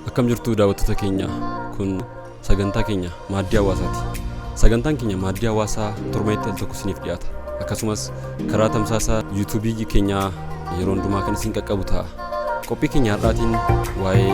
akkam jirtu daawwattoota keenya kun sagantaa keenya maaddii hawaasaati sagantaan keenya maaddii hawaasaa torbeetti al tokko isiniif dhiyaata akkasumas karaa tamsaasa yuutuubii keenyaa yeroo hundumaa kan isin qaqqabu ta'a qophii keenya har'aatiin waa'ee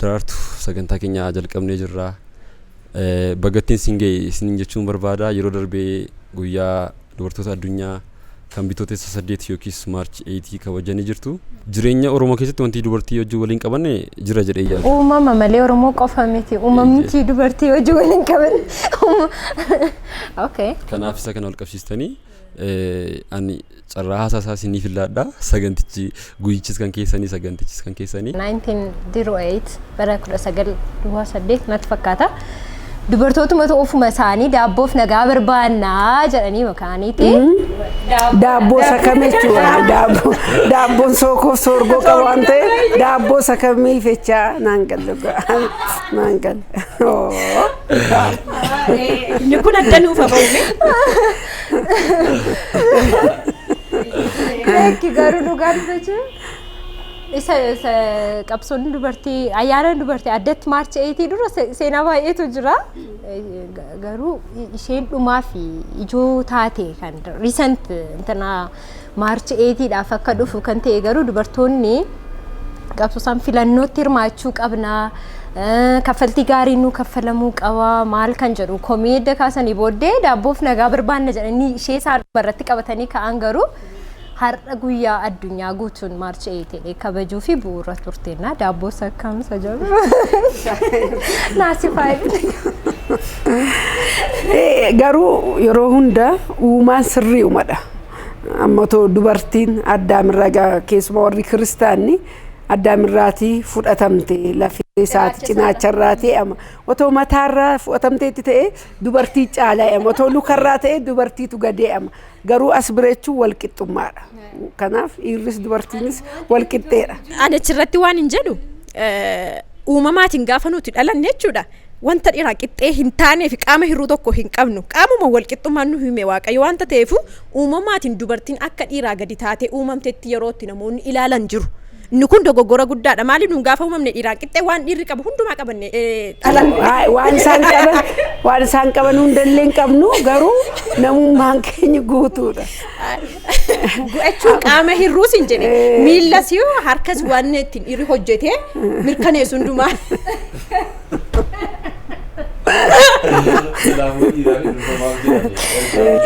Daraartu sagantaa keenya jalqabnee jirra. Baga ittiin isin ga'e isiniin jechuun barbaada. Yeroo darbee guyyaa dubartoota addunyaa kan bitootessa saddeet yookiis maarchi eeyitii kabajanii jirtu. Jireenya Oromoo keessatti wanti dubartii hojii waliin qabanne jira jedhee yaadu. Uumama malee Oromoo qofa miti. Uumamnichi dubartii hojii waliin qaban. Okay. Kanaaf isa kana wal qabsiistanii ani Carraa haasaa isaa isiniif illaadha. Sagantichi guyyichis kan keessanii sagantichis kan keessanii. 1908 bara 1908 natti fakkaata. Dubartootumatu ofuma isaanii daabboof nagaa barbaannaa jedhanii makaaniiti. Daabboo isa kam jechuudha? Daabboo- Daabboon sookoof soorgoo qabu waan ta'eef daabboo isa kamiif jechaa naan galle dhugaa. Naan galle. Oo. Inni kun adda nuuf hafa uume. Beekki garuu dhugaa dubbachuun isa isa qabsoon dubartii ayyaana dubartii addatti maarchi eeyitii dura se- seenaa baay'eetu jira. Eh, ga- Garuu i- isheen dhumaa fi ijoo taate kan recent intanaa Maarchi 8 dhaaf akka dhufu kan ta'e garuu dubartoonni qabsoo isaan filannootti hirmaachuu qabna kaffaltii gaariin nu kaffalamuu qaba maal kan jedhu komii edda kaasanii booddee daabboof nagaa barbaanna jedhanii ishee isaan irratti qabatanii ka'an garuu har'a guyyaa addunyaa guutuun maarchi 8 ta'e kabajuu fi bu'uura turteenna daabboo sakkaamsa jedhu naasifaa Garuu yeroo hunda uumaan sirrii uumadha. Amma otoo dubartiin addaamirraa egaa keessumaa warri kiristaanni addaamirraatii fudhatamte lafee isaati cinaacharraatii amma otoo mataarraa fudhatamteetti ta'ee dubartii caalaa amma otoo lukarraa ta'ee dubartiitu gadee amma garuu as bira jechuun wal qixxummaadha. Kanaaf dhiirris dubartiinis wal qixxeedha. Ani achirratti waan hin jedhu eh, uumamaatiin gaafa nuti dhalanne jechuudha. wanta dhiraa qixxee hin taanee fi qaama hir'uu tokko hin qabnu qaamuma walqixxummaan nu hime waaqayyo wanta ta'eef uumamaatiin dubartiin akka dhiiraa gadi taatee uumamtetti yerootti namoonni ilaalan jiru. Inni kun dogoggora guddaadha. Maali nuun gaafa uumamne dhiiraan qixxee waan dhiirri qabu hundumaa qabanne dhalan. Waa- waan isaan qaban waan isaan qaban hundallee hin qabnu garuu namummaan keenya guutuudha. Go'achuun qaama hir'uus hin jedhe. Miillas yoo harkas waan ittiin dhiirri hojjetee mirkaneessu hundumaa.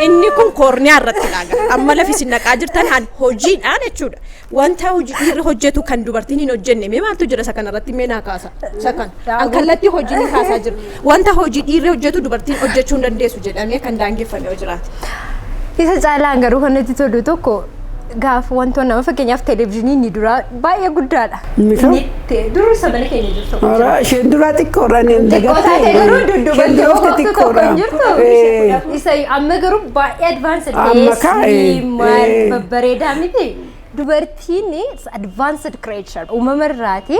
Inni kun koorniyaa irratti dhaaga. Amma lafi isin naqaa jirtan hojii dhaan jechuudha. Wanta hojii dhiirri hojjetu kan dubartiin hin hojjenne mee maaltu jira isa kanarratti mee naa kaasa isa kan an kallattii hojii ni kaasaa jira wanta hojii dhiirri hojjetu dubartiin hojjechuu hin dandeessu jedhamee kan daangeffame yoo jiraate. Isa caalaan garuu kan natti tolu tokko gaaf wantoon nama fakkeenyaaf televezyiinii inni duraa baay'ee guddaadha. Inni kaan? Inni Te- Durri sabana keenya jirtu kun Ora isheen duraa xiqqoodha inni hin xiqqoo dagatte. taate garuu Isheen dudduuba duraa jirtu tokko xiqqoodha. hin jirtu. Eh, Isa amma garuu baay'ee advanced Amma ta'ee kaa, eh, slim, maal, eh. babbareedaa miti. Dubartiin advanced creature uumama irraati.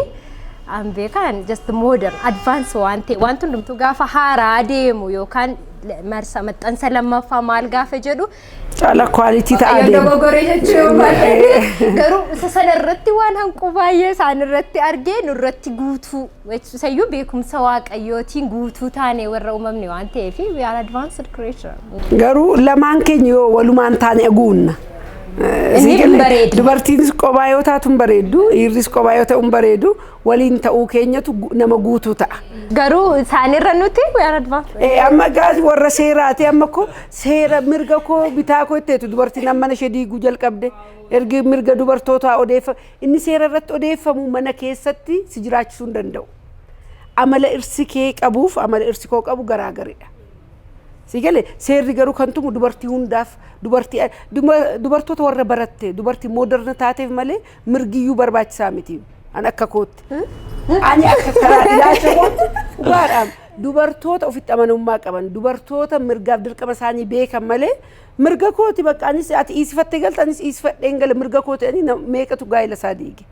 An beekaan just modern advance waan ta'e wanti hundumtuu gaafa haaraa deemu yookaan marsa maxxansa lammaffaa maal gaafa jedhu Caala kwaalitii ta'a Waaqayyoon deema. dogoggoree jechuu yoo baadhee garuu isa sana irratti waan hanquu baay'ee isaan irratti argee nurratti guutuu jechuusayyuu beekumsa waaqayyootiin guutuu taane warra uumamne waan ta'eef we are advanced creature. Garuu lamaan keenya yoo walumaan taane aguunna. Inni hin bareedu. Dubartiinis qobaa yoo taatu hin bareeddu, dhiirris qobaa yoo ta'u hin bareedu, waliin ta'uu keenyatu gu- nama guutuu ta'a. Garuu isaanirra nuti we are advanced. Eh, amma gaas warra seeraati amma ko seera mirga koo bitaa koo itteetu dubartiin amma mana ishee diiguu jalqabde ergi mirga dubartootaa odeeffa inni seera irratti odeeffamu mana keessatti si jiraachisuu hin danda'u. Amala irsi kee qabuuf amala irsi koo qabu garaagaridha. Si gale seerri garuu kan tumu dubartii hundaaf dubartii duma- dubartoota warra baratte dubartii mooderna taateef malee mirgiyyuu barbaachisaa miti an akka kootti. Ani akka karaa ilaalcha kootti dhugaadhaan dubartoota ofitti amanamummaa qaban dubartoota mirgaaf dirqama isaanii beekan malee mirga kooti bakka anis ati dhiisifattee galte anis dhiisifadheen gale mirga kooti ani na- meeqatu gaa'ela isaa diige.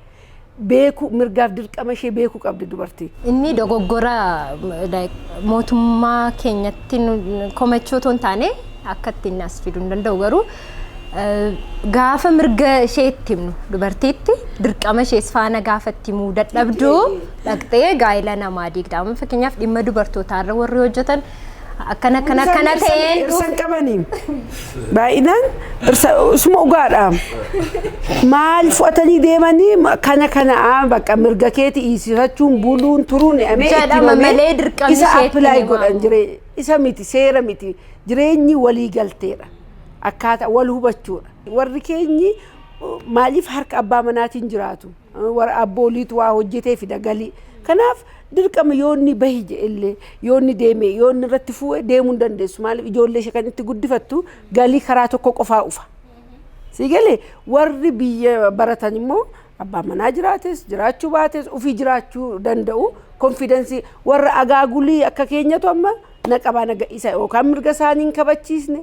Beeku mirgaaf dirqama ishee beekuu qabdi dubartiin. Inni dogoggora like, mootummaa keenyatti nu- komachuu otoo hin taane akka ittiin as fiduu hin danda'u garuu Gaafa mirga ishee itti himnu dubartiitti dirqama ishees faana gaafa itti himuu dadhabdu dhaqxee gaa'ila namaa diigda. Amma fakkeenyaaf dhimma dubartootaa irra warri hojjetan akkana akkana akkana ta'een Dhirsan qabanii baay'inaan dhirsa isuma dhugaadha. Maal fudhatanii deemanii ma- kana kana aa, bakka mirga keeti iisifachuun buluun turuun amee itti Jedhama himamee malee dirqamni isa isheetti apply himamu. godhan jiree isa miti seera miti jireenyi walii galteedha. akkaataa wal hubachuudha. Warri keenyi maaliif harka abbaa manaatiin jiraatu? Warra abbooliitu waa hojjetee fida galii. Kanaaf dirqama yoonni bahi jedhellee yoonni deeme yoonni irratti fuue deemuu hin dandeessu. Maaliif ijoollee ishee kan itti guddifattu galii karaa tokko qofaa ufa. Sii galee warri biyya baratan immoo Abbaan manaa jiraates jiraachuu baates ofii jiraachuu danda'u konfidensii warra agaagulii akka keenyatu amma na qabaa na gadhiisa yookaan mirga isaanii hin kabachiisne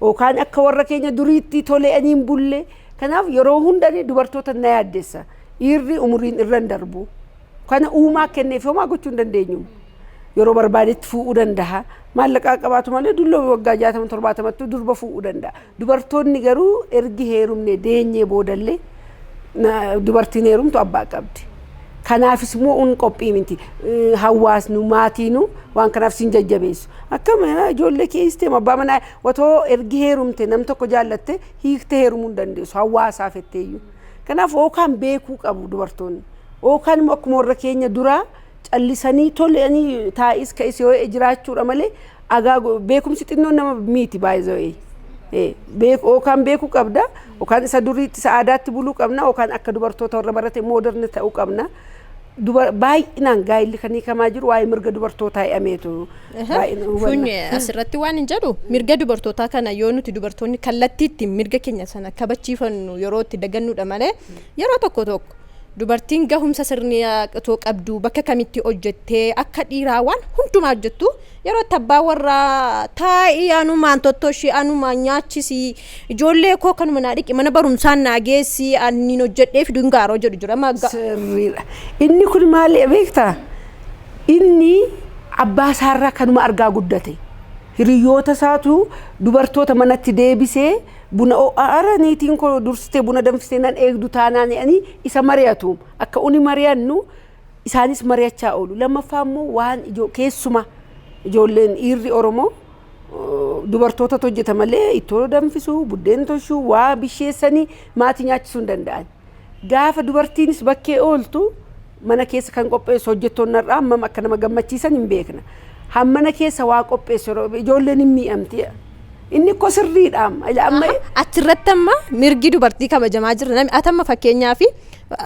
yookaan akka warra keenya duriitti tole'anii hin bulle kanaaf yeroo hundanii dubartoota na yaaddessa dhiirri umuriin irra hin darbu kana uumaa kenneef homaa gochuu hin dandeenyu yeroo barbaadetti fuudhuu danda'a maallaqaa qabaatu malee dulloo waggaa jaatama torbaatamatti durba fuudhuu danda'a Dubartoonni garuu ergi heerumne deenyee boodallee dubartiin heerumtu abbaa qabdi. Kanaafis mo'uun qophii miti. Hawaasnu, maatiinu waan kanaaf sin jajjabeessu. Akkam ijoollee kee hiistee abbaa manaa otoo ergi heerumte nam tokko jaallatte hiikte heerumuu hin dandeessu hawaasaa fetteeyyuu. Kanaaf ookaan beekuu qabu dubartoonni. Ookaan immoo akkuma warra keenya duraa Callisanii tolanii taa'is ka'is yoo jiraachuudha malee agaa beekumsi xinnoon nama miiti baay'ee Yookaan beekuu qabda yookaan isa duriitti isa aadaatti buluu qabna yookaan akka dubartoota warra barate mooderni ta'uu qabna. Baay'inaan gaa'illi kan hiikamaa jiru waa'ee mirga dubartootaa hidhameetu. Kun asirratti waan hin jedhu mirga dubartootaa kana yoo nuti dubartoonni kallattiitti mirga keenya sana kabachiifannu yeroo itti dagannuudha malee yeroo tokko tokko Dubartiin gahumsa sirnaa otoo qabduu bakka kamitti hojjettee akka dhiiraa waan hundumaa hojjettu yeroo itti abbaa warraa taa'ii anumaan tottoshii anumaan nyaachisii ijoollee koo kanuma naa dhiqi mana barumsaan naa geessii anniin hojjedhee fidu hin gaaroo jedhu jira amma ga- Sirriidha. Inni kun maali beektaa? Inni abbaa isaarraa kanuma argaa guddate. Hiriyoota isaatu dubartoota manatti deebisee Buna oo'aa ara niitiin koo dursitee buna danfistee nan eegdu taanaan jedhanii isa mari'atu. Akka uni mari'annu isaanis mari'achaa oolu. Lammaffaa immoo waan ijoo keessumaa ijoolleen dhiirri Oromoo dubartootatu hojjeta malee ittoo danfisuu, buddeen toshuu, waa bisheessanii maatii nyaachisuu hin danda'an. Gaafa dubartiinis bakkee ooltu mana keessa kan qopheessu hojjettoonni har'aa hammam akka nama gammachiisan hin beekna. Hammana keessa waa qopheessu yeroo ijoolleen hin miidhamti. Inni kko sirriidha amma. Ila amma Achirratti amma mirgi dubartii kabajamaa jira. Namni ati amma fakkeenyaaf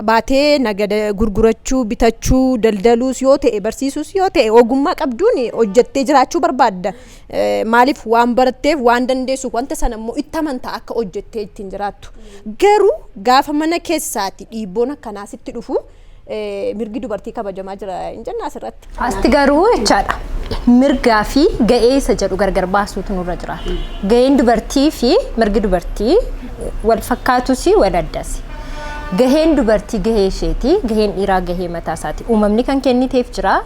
baatee nagada gurgurachuu, bitachuu, daldaluus yoo ta'e, barsiisuus yoo ta'e ogummaa qabduun hojjettee jiraachuu barbaadda. Maaliif waan baratteef waan dandeessuuf wanta sana immoo itti amantaa akka hojjettee ittiin jiraattu. Garuu gaafa mana keessaati dhiibboon akkanaa sitti dhufu mirgi dubartii kabajamaa jira hin jenna asirratti. Asti garuu jechaadha. Mirgaa fi ga'ee isa jedhu gargar baasuutu nurra jiraata. Ga'een dubartii fi mirgi dubartii wal fakkaatus wal addas. Gaheen dubartii gahee isheeti, gaheen dhiiraa gahee mataa isaati. Uumamni kan kenniteef jira,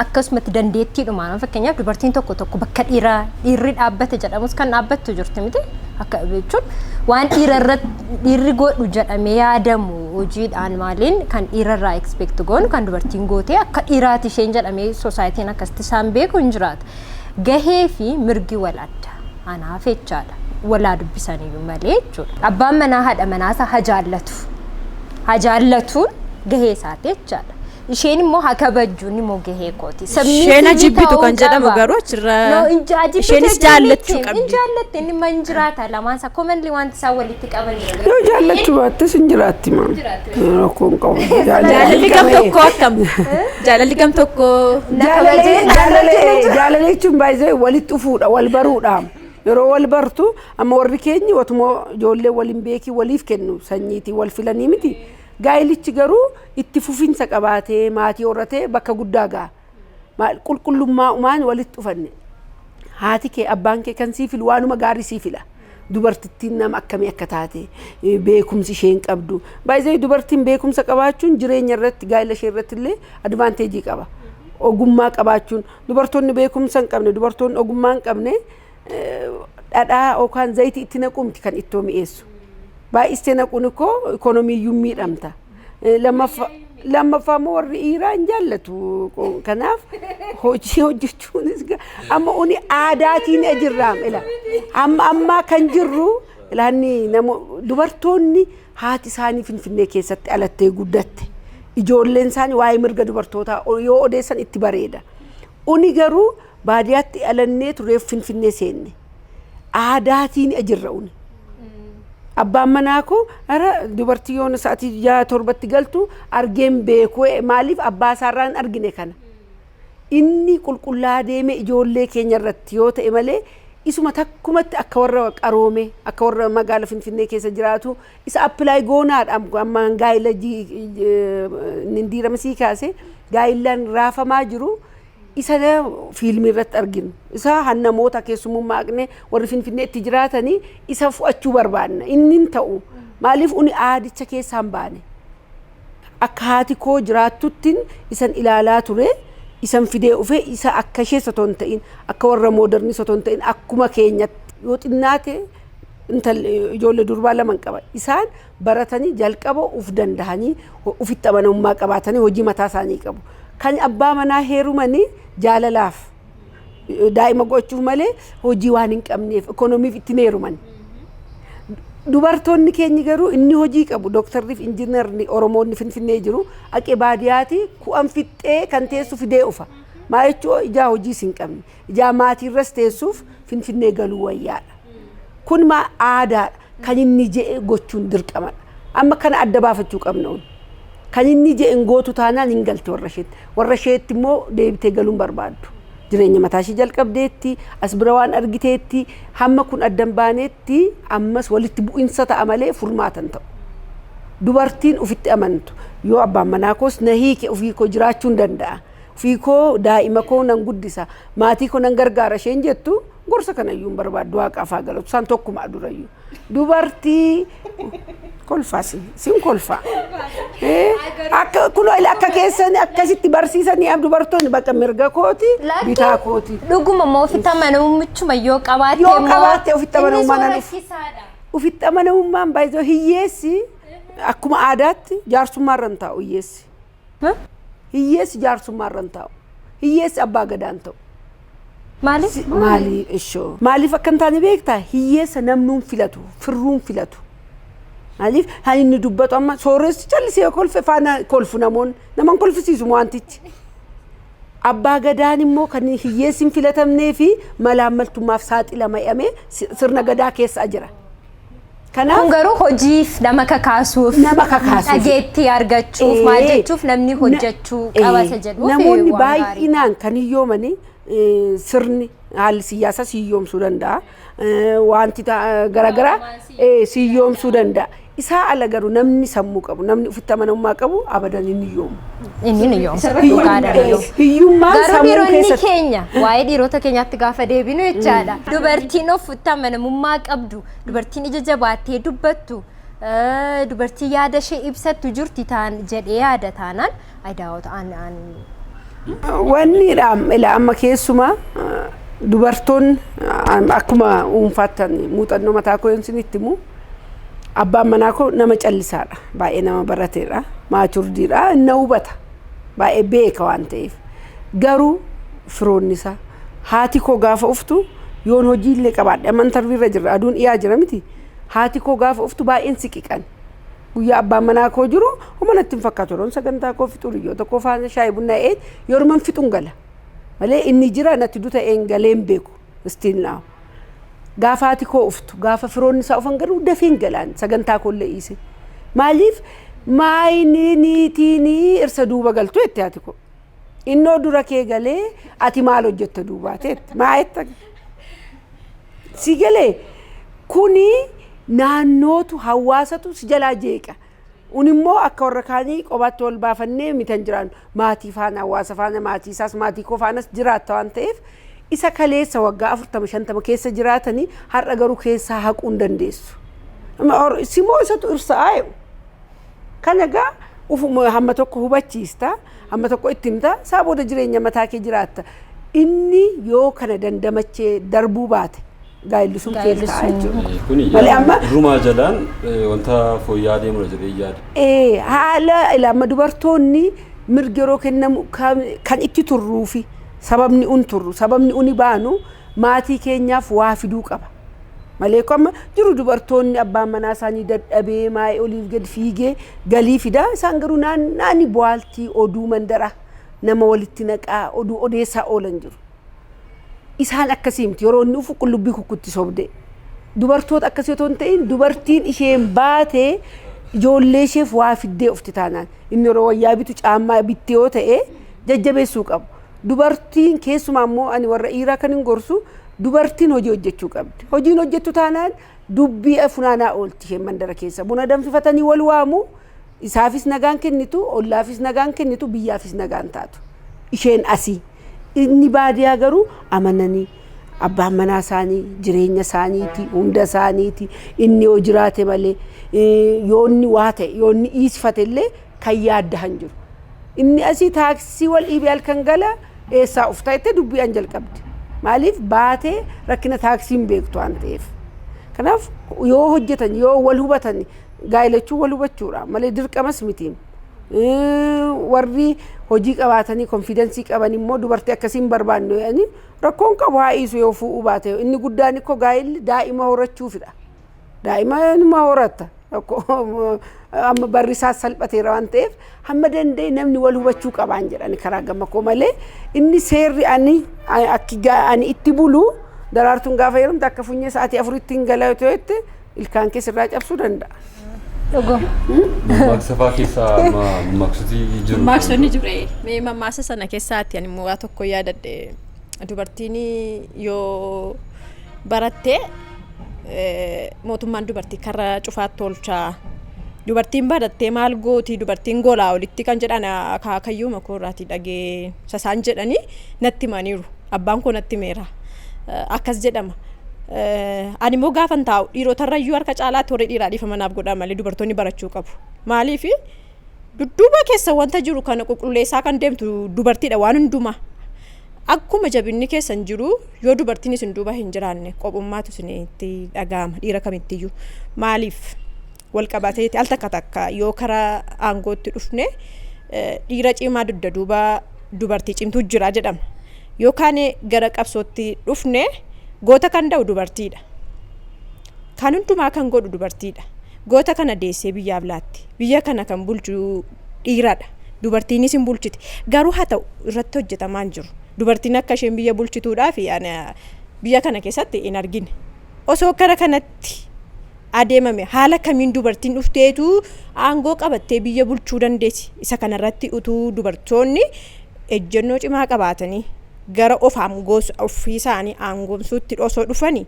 Akkasumatti dandeettiidhumaan amma fakkeenyaaf dubartiin tokko tokko bakka dhiiraa dhiirri dhaabbate jedhamus kan dhaabbattu jirti miti akka jechuun waan dhiira irratti dhiirri godhu jedhamee yaadamu hojiidhaan maaliin kan dhiira irraa expect goonu kan dubartiin gootee akka dhiiraati isheen jedhamee soosaayitiin akkasitti isaan beeku hin jiraata. Gahee fi mirgi wal adda anaaf jechaadha walaa dubbisaniyyuu malee jechuudha. Abbaan manaa haadha manaa isaa hajaallatu hajaallatuun gahee isaati jechaadha. Isheen immoo haa kabajju inni immoo gahee kooti. Isheen ajibbitu kan jedhamu garuu achirra isheenis jaallachuu qabdi. Hin jaallatte inni man jiraata lamaan isaa komanli wanti isaa walitti qaban jira. Yoo jaallachuu baattes hin jiraatti maa. Rakkoo hin qabu. Jaalalli gam tokkoo akkam? Jaalalli gam tokkoo Jaalala jechuun baay'ee walitti dhufuudha, wal baruudha. Yeroo wal bartu amma warri keenyi otuma ijoollee waliin beekii waliif kennu sanyiitii wal filanii miti. Gaa'ilichi garuu itti fufinsa qabaatee, maatii horratee bakka guddaa ga'a. Maal qulqullummaa umaan walitti dhufanne. Haati kee abbaan kee kan sii filu waanuma gaarii sii fila. Dubartittiin nama akkamii akka taate eh, beekumsi isheen qabdu. Baay'ee dubartiin beekumsa qabaachuun jireenya irratti gaa'ila ishee irratti illee advaanteejii qaba. Ogummaa qabaachuun dubartoonni beekumsa hin qabne dubartoonni ogummaa hin qabne dhadhaa yookaan zayitii itti naquu miti kan ittoo mi'eessu. Baay'istee naquun ikkoo ikoonomiiyyuu miidhamta. Eh, Lammaffa- Lammaffaa immoo warri dhiiraa hin jaallatu. Qo- Kanaaf hojii hojjechuunis ga- amma uni aadaatiin jirra. Ila amma ammaa kan jirru ilaanni namo dubartoonni haati isaanii finfinnee keessatti alattee guddatte. Ijoolleen isaanii waa'ee mirga dubartootaa o- yoo odeessan itti bareeda. Uni garuu Baadiyaatti dhalanneetu reef Finfinnee seenne. Aadaatiin ajirra une. Abbaan manaa koo ara dubartii yoona sa'atii ja'a torbatti galtu argeen beeku ee, maaliif abbaa isaarraa hin argine kana. Inni qulqullaa deemee ijoollee keenya irratti yoo ta'e malee isuma takkumatti akka warra qaroomee akka warra magaala Finfinnee keessa jiraatu isa apply goonaadha amma gaa'ila ji- inni hin diirame sii kaase gaa'illaan raafamaa jiru isa fiilmii irratti arginu isa han namoota keessummummaa aqnee warri finfinnee itti jiraatanii isa fu'achuu barbaanna inni hin ta'u maaliif uni aadicha keessaan baane akka haati koo jiraattuttiin isan ilaalaa ture isan fidee ufe isa akka ishee osoo hin ta'in akka warra moodarnii osoo hin ta'in akkuma keenyatti yoo xinnaate intal ijoollee durbaa lama hin qaba isaan baratanii jalqaba uf dandahanii ufitti amanamummaa qabaatanii hojii mataa isaanii qabu. Kan abbaa manaa heerumanii jaalalaaf daa'ima gochuuf malee hojii waan hin qabneef ikoonomiif ittiin heeruman. Dubartoonni keenyi garuu inni hojii qabu dooktarriif injiinarri Oromoonni finfinnee jiru aqe baadiyaati ku'an fixxee kan teessu fidee ufa. Maa jechuun ijaa hojiis hin qabne. Ijaa maatiirras teessuuf Finfinnee galuu wayyaadha. Kun ma aadaadha. Kan inni je'e gochuun dirqamadha. Amma kana adda baafachuu qabna. Kan inni je'e hin gootu taanaan hin galte warra isheetti. Warra isheetti immoo deebitee galuun barbaaddu. Jireenya mataa ishee jalqabdeetti, as bira waan argiteetti, hamma kun adda hin baaneetti ammas walitti bu'insa ta'a malee furmaata hin ta'u. Dubartiin ofitti amantu yoo abbaan manaa koos na hiike ofii koo jiraachuun danda'a. Ofii koo daa'ima koo nan guddisa, maatii koo nan gargaara isheen jettu gorsa kana iyyuu hin barbaaddu waaqaaf haa galatu isaan tokkuma durayyu. Dubartii kolfaa sin sin kolfaa. Eh, Akka kunoo ila akka keessan akkasitti barsiisanii dubartoonni bakka mirga kooti bitaa kooti. Dhuguma moo ofitti amanamummichuma yoo qabaatte Yoo immoo qabaatte ofitti amanamummaa inni nan sun dhufu. rakkisaadha. Ofitti amanamummaan baay'ee hiyyeessi akkuma aadaatti jaarsummaa irra hin taa'u hiyyeessi. Hiyyeessi jaarsummaa irra hin taa'u. Hiyyeessi abbaa gadaa hin ta'u. Maaliif? Si- Maali ishoo. Maaliif akka hin taane beektaa? Hiyyeessa namnuun filatu, firruun filatu. Maaliif? Kan inni dubbatu amma sooressi callisee yoo kolfe faana kolfu namoonni. Nama hin kolfisiisu wantichi. Abbaa gadaan immoo kan hiyyeessi hin filatamnee fi malaammaltummaaf saaxilama jedhamee si- sirna gadaa keessa jira. Kanaaf Kun garuu hojiif nama kakaasuuf, Nama kakaasuuf. dhageettii argachuuf, maal Ee, jechuuf namni na- hojjechuu ee, qaba isa jedhuuf Namoonni waan gaarii. baay'inaan kan hiyyoomanii ee, sirni haalli siyaasaa si hiyyoomsuu danda'a. Ee, Wanti ta- garaagaraa Hawaamaan si ee, si hiyyoomsuu danda'a. Isaa ala garuu namni sammuu qabu, namni ofitti amanamummaa qabu abadan hin hiyyoomu. Inni ni yoom Isarratti hiyyummaa- dhugaadha ni yoom. hiyyummaan Garuu sammuu dhiironni keessatti keenya waa'ee dhiirota keenyaatti gaafa deebinu jechaadha. Dubartiin of amanamummaa qabdu, dubartiin ija jabaattee dubbattu, eh, dubartii yaada ishee ibsattu jirti taan jedhee yaada taanaan adaawota aan aan Wanni dhaam- ila amma keessumaa ah, dubartoonni ah, akkuma dhuunfaatti muuxannoo mataa koo yoon isinitti himu Abbaan manaa koo nama callisaadha. Baay'ee nama barateedha. Maaturdiidha. Inna hubata. Baay'ee beeka waan ta'eef. Garuu firoonni isaa haati koo gaafa uftu yoon hojii illee qabaadhe amma intarvii irra jirra aduun dhiyaa jira miti. Haati koo gaafa uftu baay'een siqiqan. Guyyaa abbaan manaa koo jiru homa natti hin fakkaatu yeroon sagantaa koo fixu hiriyoota koo faana shaayii bunnaa ee yoruman fixun gala. Malee inni jira natti duta een galeen beeku. still now. Gaafa haati koo uftu, gaafa firoonni isaa ufan garuu dafee hin galaan sagantaa koo illee dhiise. Maaliif maayini niitiini irsa duuba galtu jetti haati koo. Innoo dura kee galee ati maal hojjetta duubaate jetti. Maayetta si galee kuni naannootu hawaasatu si jalaa jeeqa. Nuun immoo akka warra kaanii qobaatti wal baafannee miti kan jiraannu. Maatii faana, hawaasa faana, maatii isaas, maatii koo faanas jiraatta waan ta'eef isa kaleessa waggaa afurtama, shantama keessa jiraatani har'a garuu keessaa haquu hin dandeessu. Simoo isatu irsa'aa jedhu. Kana egaa ufuma hamma tokko hubachiista, hamma tokko itti himta, isaa booda jireenya mataa kee jiraatta. Inni yoo kana dandamachee darbuu baate gaa'elli sun keessa Gaa'elli ta'a sun- jechuudha. Eh, Kuni Malee yaa- amma irrumaa jalaan eh, wanta fooyya'aa deemudha jedhee yaada. Ee, haala ilaama dubartoonni mirgi yeroo kennamu kan kan itti turruufi sababni un turru sababni uni baanu maatii keenyaaf waa fiduu qaba. Malee kun amma jiru dubartoonni abbaan manaa isaanii dadhabee maa'ee oliif gad fiigee galii fidaa isaan garuu naannaani bu'aaltii oduu mandara nama walitti naqaa oduu odeessaa oolan jiru. Isaan akkasii miti. Yeroo inni dhufu qullubbii kukkutti sobdee. Dubartoota akkasii otoo hin ta'in dubartiin isheen baate ijoollee isheef waa fiddee ofti taanaan. Inni yeroo wayyaa bitu caammaa bitti yoo ta'e jajjabeessuu qabu. Dubartiin keessumaa immoo ani warra dhiiraa kan hin gorsu dubartiin hojii hojjechuu qabdi. Hojiin hojjettu taanaan Dubbii funaanaa oolti isheen mandara keessa. Buna danfifatanii wal waamu, isaafis nagaan kennitu, ollaafis nagaan kennitu, biyyaafis nagaan taatu. Isheen asi. Inni baadiyaa garuu amananii abbaan manaa isaanii jireenya isaaniiti, hunda isaaniiti, inni yoo jiraate malee, yoo inni waa ta'e, yoo inni dhiisfate illee kan yaaddahan jiru. Inni asii taaksii wal dhiibee halkan gala eessaa uftaa jettee dubbii an jalqabde. Maaliif baatee rakkina taaksii hin beektu waan ta'eef. Kanaaf yoo hojjetan yoo wal hubatan gaa'ilachuu wal hubachuudha malee dirqamas miti. Warri hojii qabaatanii konfiidensii qaban immoo dubartii akkasii hin barbaannu jedhanii rakkoon qabu haa dhiisu yoo fuudhuu baate inni guddaan ikkoo gaa'illi daa'ima horachuufidha. Daa'ima numa horatta. Amma barri isaa salphateera waan ta'eef hamma danda'e namni wal hubachuu qabaan jedhani karaa gama koo malee inni seerri ani akki ani itti bulu daraartuun gaafa yerumte akka funyee sa'aatii afuritti hin gala yoo ta'etti ilkaan keessa irraa cabsuu danda'a. Dhugaa. Mammaaksa fa'aa keessaa amma mammaaksoti jiru. Maammaaksoonni jiru. Mee mammaaksa sana keessaatti ani immoo waa tokko yaadadhe. Dubartiin yoo baratte mootummaan dubartii karra cufaatti oolcha. Dubartiin barattee maal gooti dubartiin golaa olitti kan jedhan akaakayyuu makoo irraatii dhagee sasaan jedhanii natti himaniiru. Abbaan koo natti himeera. Akkas jedhama. Ani immoo gaafan taa'u dhiirotarrayyuu harka caalaatti warri dhiiraa dhiifama naaf godhaa malee dubartoonni barachuu qabu. Maaliifi? Dudduuba keessa wanta jiru kana qulqulleessaa kan deemtu dubartiidha waan hundumaa. Akkuma jabinni keessan jiru yoo dubartiin isin duuba hin jiraanne qophummaatu isinitti dhaga'ama dhiira kamittiyyuu. Maaliif wal qabateeti al takka takka yoo karaa aangootti dhufne eh, dhiira cimaa dugda duuba dubartii cimtuu jira jedhama. Yookaan gara qabsootti dhufne goota kan da'u dubartiidha. Kan hundumaa kan godhu dubartiidha. Goota kana deessee biyyaaf laatte. Biyya kana kan bulchu dhiiradha. Dubartiinis hin bulchiti. Garuu haa ta'u irratti hojjetamaa hin jiru. Dubartiin akka isheen biyya bulchituudhaaf biyya kana keessatti hin argine. Osoo kara kanatti adeemame haala kamiin dubartiin dhufteetu aangoo qabattee biyya bulchuu dandeessi? Isa kanarratti utuu dubartoonni ejjennoo cimaa qabaatanii gara of aangoos ofiisaanii aangoomsuutti osoo dhufani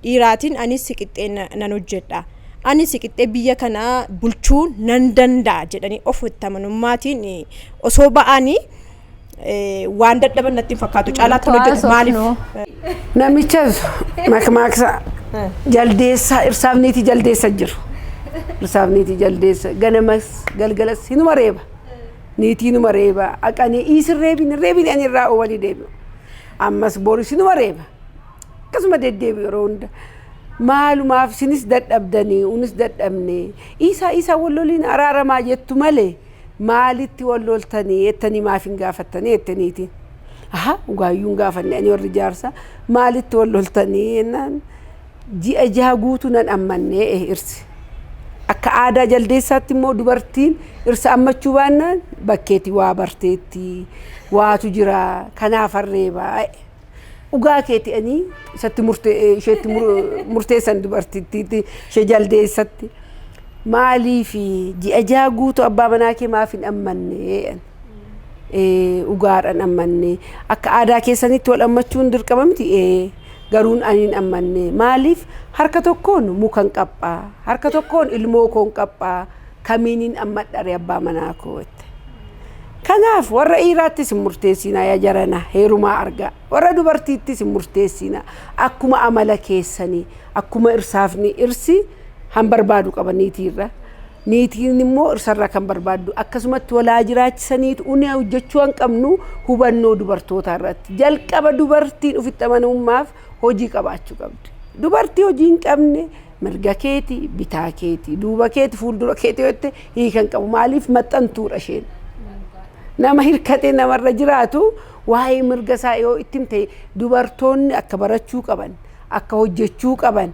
dhiiraatiin anis siqixxee na- nan hojjedha ani siqixxee biyya kana bulchuu nan danda'a jedhanii of itti amanummaatiin eh, osoo ba'anii eh, waan dadhaban natti hin fakkaatu caalaatti Nutu hojjedha maaliif haasofnu. Namichas makmaaksa jaldeessaa irsaaf niitii jaldeessa jiru. Irsaaf niitii jaldeessa ganamas galgalas hinuma reeba. Niitiinuma reeba aqa ani iisin reebin reebin ani irraa oowali deebi'u. Ammas boris numa reeba. Akkasuma deddeebi'u yeroo hunda. Maalumaaf sinis dadhabdanii unis dadhabne iisaa iisaa wal loliin araaramaa jettu malee maalitti wal loltanii ettanii maaf hin gaafattanii jette niitiin. Aha dhugaayyuu hin gaafanne ani warri jaarsaa maalitti wal loltanii jennaan Ji'a jaha guutuu nan ammanne irsi. Akka aadaa jaldeessaatti immoo dubartiin irsa ammachuu baannaan bakkeetti waa barteetti waatu jira kanaaf harreeba. Dhugaa keeti ani isatti isheetti murteessan dubartittiitti ishee jaldeessatti. Maaliif ji'a jaha guutuu abbaa manaa kee maaf hin ammanne? Dhugaadhaan ammanne akka aadaa keessanitti wal ammachuun dirqama miti? Garuun ani hin ammanne. Maaliif? Harka tokkoon mukan qab'a, harka tokkoon ilmoo koon qab'a, kamiinin ammadhare abbaa manaa koo jette. Kanaaf warra dhiiraattis hin murteessiinaa yaa jarana heerumaa argaa. Warra dubartiittis hin murteessiinaa. Akkuma amala keessanii, akkuma irsaafni irsi han barbaadu qaba niitiirra. Niitiin immoo irsarraa kan barbaaddu akkasumatti wal haa jiraachisaniitu uni hojjechuu kan qabnu hubannoo dubartootaa irratti jalqaba dubartiin ofitti amanamummaaf hojii qabaachuu qabdi. Dubartii hojii hin qabne mirga keeti bitaa keeti duuba keeti fuuldura keeti yoo jette hiika hin qabu maaliif maxxantuudha isheen. Nama hirkatee namarra jiraatu waa'ee mirga isaa yoo itti himte dubartoonni akka barachuu qaban akka hojjechuu qaban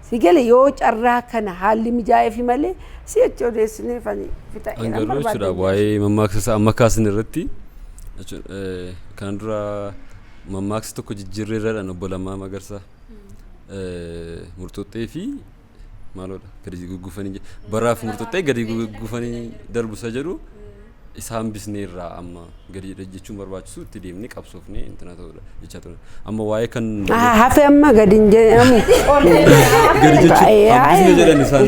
Si gale yoo carraa kana haalli mijaa'eefi malee si'achi odeessineef ani fixa An eeran garuu barbaaddan jechuudha jedha waa'ee isheen. mammaaksa isaa amma kaasan irratti jechuun, eh, kana dura mammaaksa tokko jijjiirreerradhaan obbo Lammaa Magarsaa eh, murxuxxee fi maaloodha gadi guggufanii je- baraaf murxuxxee gadi guggufanii darbu isa jedhu isa hambisnee irraa amma gadi jechuun barbaachisu itti deemnee qabsoofnee intina ta'uudha jechaa turan. Amma waa'ee kan Ah, hafe amma gadi hin jedhamu. gadi jechuun hambisne jedhan isaan.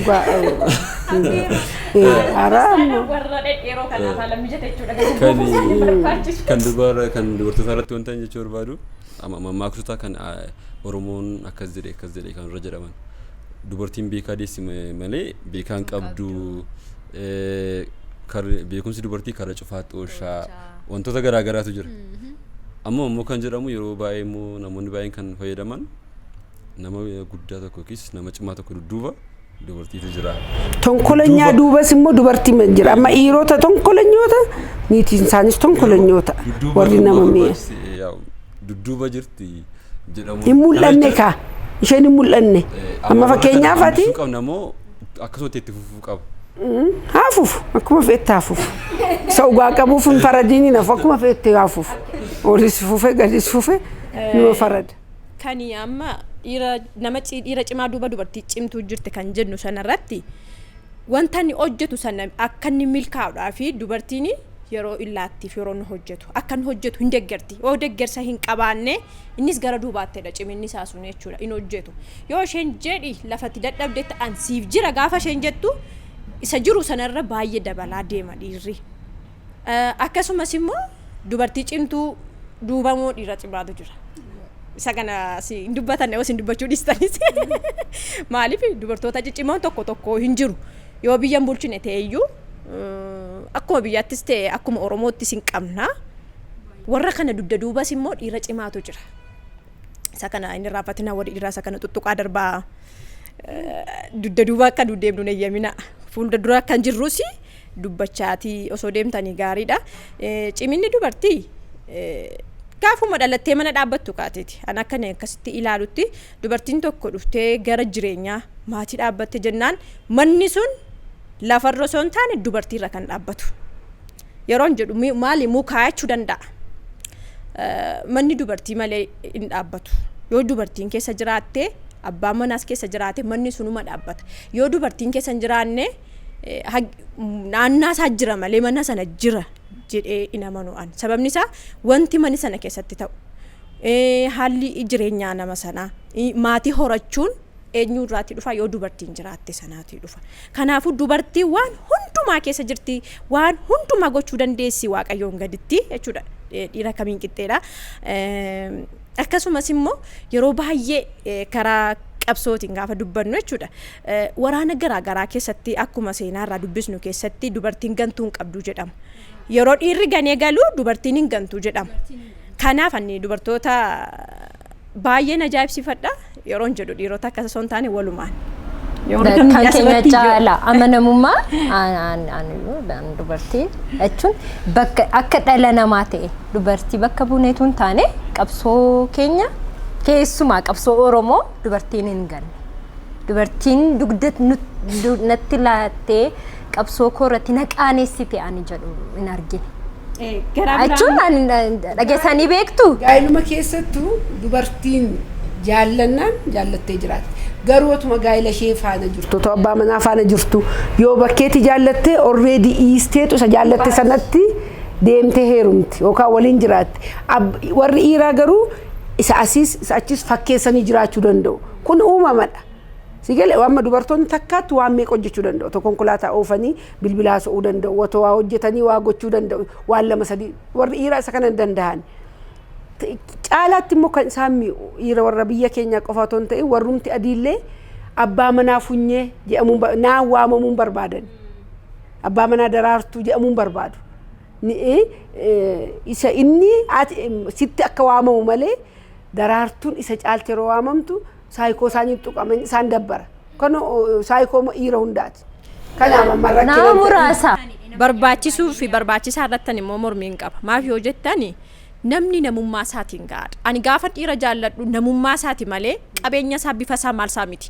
Hara amma. warra dhedheeroo kan lafaa lammi jete jechuudha kan Kan barbaachisu. kan dubara kan dubartoota irratti wanta hin jechuu barbaadu amma mammaaksota kan ah, Oromoon akkas jedhe akkas jedhe kan irra jedhaman dubartiin beekaa deessi ma- malee beekaan qabdu beekumsi dubartii karra cufaa xooshaa wantoota garaa garaatu jira. Amma immoo kan jedhamu yeroo baay'ee immoo namoonni baay'een kan fayyadaman nama guddaa tokko yookiis nama cimaa tokko dudduuba dubartiitu jira. Tonkolenyaa duubas immoo dubartii ma jira. Amma dhiirota tonkolenyoota niitiin isaanis tonkolenyoota warri nama mi'a. Dudduuba jirti jedhamu. Hin mul'anne kaa. Isheen hin mul'anne. Amma fakkeenyaaf ati. Qabna moo akkasumatti itti fufu. qabu. Haa fufu akkuma feette haa fufu. Isa dhugaa qabuuf hin faradiini nafu akkuma feette haa fufu. Olis fufe gadis fufe numa farada. Kan amma dhiira nama dhiira cimaa duuba dubartii cimtuu jirti kan jennu sanarratti wanta inni hojjetu sana akka inni milkaa'uudhaa fi dubartiin yeroo illaattiif yeroo inni hojjetu akka inni hojjetu hin deggerti. Yoo deggersa hin qabaanne Innis gara duubaatti jedha ciminni isaa sun jechuudha. Hin hojjetu. Yoo isheen jedhi lafatti dadhabdetti an siif jira gaafa isheen jettu isa jiru sanarra baay'ee dabalaa deema dhiirri. Akkasumas immoo dubartii cimtuu duuba immoo dhiira cimaatu jira. Isa kana si hin dubbatan yoo isin dubbachuu dhiistanis. Maaliif dubartoota ciccimoon tokko tokko hin jiru. Yoo biyya hin bulchine ta'e iyyuu akkuma biyyaattis ta'e akkuma Oromoottis hin qabna. Warra kana dugda duubas immoo dhiira cimaatu jira. Isa kana hin irraanfatinaa warri dhiiraa isa kana tuttuqaa darbaa dugda duuba akka nu deemnu hin eeyyaminaa. Fuulda dura kan jirrus dubbachaatii osoo deemtanii gaariidha. Ciminni dubartii gaafuma dhalattee mana dhaabbattu kaateeti. An akka inni akkasitti ilaalutti dubartiin tokko dhuftee gara jireenyaa maatii dhaabbatte jennaan manni sun lafarra osoo hin taane dubartiirra kan dhaabbatu. Yeroon jedhu mi- maali muu kaayachuu danda'a. Eh, Manni dubartii malee hin dhaabbatu. Yoo dubartiin keessa jiraatte abbaan manaas keessa jiraate manni sunuma dhaabbata. Yoo dubartiin keessa hin jiraanne eh, hag- m- naannaa isaa jira malee mana sana jira jedhee hin amanu an. Sababni isaa wanti mana sana keessatti ta'u eh, haalli jireenyaa nama sanaa eh, maatii horachuun Eenyuu irraatii dhufa? Yoo dubartiin jiraatte sanaatii dhufa. Kanaafuu dubartiin waan hundumaa keessa jirti, waan hundumaa gochuu dandeessi Waaqayyoon gaditti jechuudha. Eh, Dhiira kamiin qixxeedha. Eh, Akkasumas immoo yeroo baay'ee eh, karaa qabsootiin gaafa dubbannu jechuudha. Eh, Waraana garaa garaa keessatti akkuma seenaa irraa dubbisnu keessatti dubartiin gantuu hin qabdu jedhama. Yeroo dhiirri ganee galu dubartiin hin gantu jedhama. Kanaaf ani dubartoota baay'een ajaa'ibsiifadha yeroon jedhu dhiirota akkas osoo hin taane walumaan. Yoo Kan argamni keenya asirratti yoo- caala amanamummaa aan- aan- aaniyyuu dhaan dubartii jechuun bakka akka dhala namaa ta'e dubartii bakka buuneetu hin taane qabsoo keenya keessumaa qabsoo Oromoo dubartiin hin ganne. Dubartiin dugda nu- du- natti laattee qabsoo koo irratti na qaaneessite ani jedhu hin argine. Eh, Garaa Achuun biraa ani dha- dhageessanii beektu? Gaa'iluma keessattuu dubartiin jaallannaan jaallattee jiraatti. Garuu otuma gaa'ila ishee faana jirtu, otoo abbaa manaa faana jirtu, yoo bakkeetti jaallattee already dhiisteetu isa jaallatte sanatti deemtee heerumti yookaan waliin jiraatti. Ab- Warri dhiiraa garuu isa asiis isa achiis fakkeessanii jiraachuu danda'u. Kun uumamadha. Sii galee wa amma dubartoonni takkaatti waan meeqa hojjechuu danda'u otoo konkolaataa oofanii bilbila haasa'uu danda'u otoo waa hojjetanii waa gochuu danda'u waan lama sadii warri dhiiraa isa kana hin danda'an. Caalaatti immoo kan isaan mi'u dhiira warra biyya keenyaa qofa otoo hin ta'in warrumti adiillee abbaa manaa funyee jedhamuun ba- naan waamamuun barbaadan. Abbaa manaa daraartuu jedhamuun barbaadu. Ni- eh, eh, Isa inni ati- em, sitti akka waamamu malee daraartuun isa caalti yeroo waamamtu saayikoo isaanii tuqama isaan dabbara. Kan saayikoo immoo dhiira hundaati. Kanaaf amma Nama rakkina ta'e- muraasa. barbaachisuu fi barbaachisaa irrattan immoo mormiin qaba maaf yoo jettani namni namummaa isaatiin gahaadha ani gaafa dhiira jaalladhu namummaa isaati malee qabeenya isaa bifa isaa maal isaa miti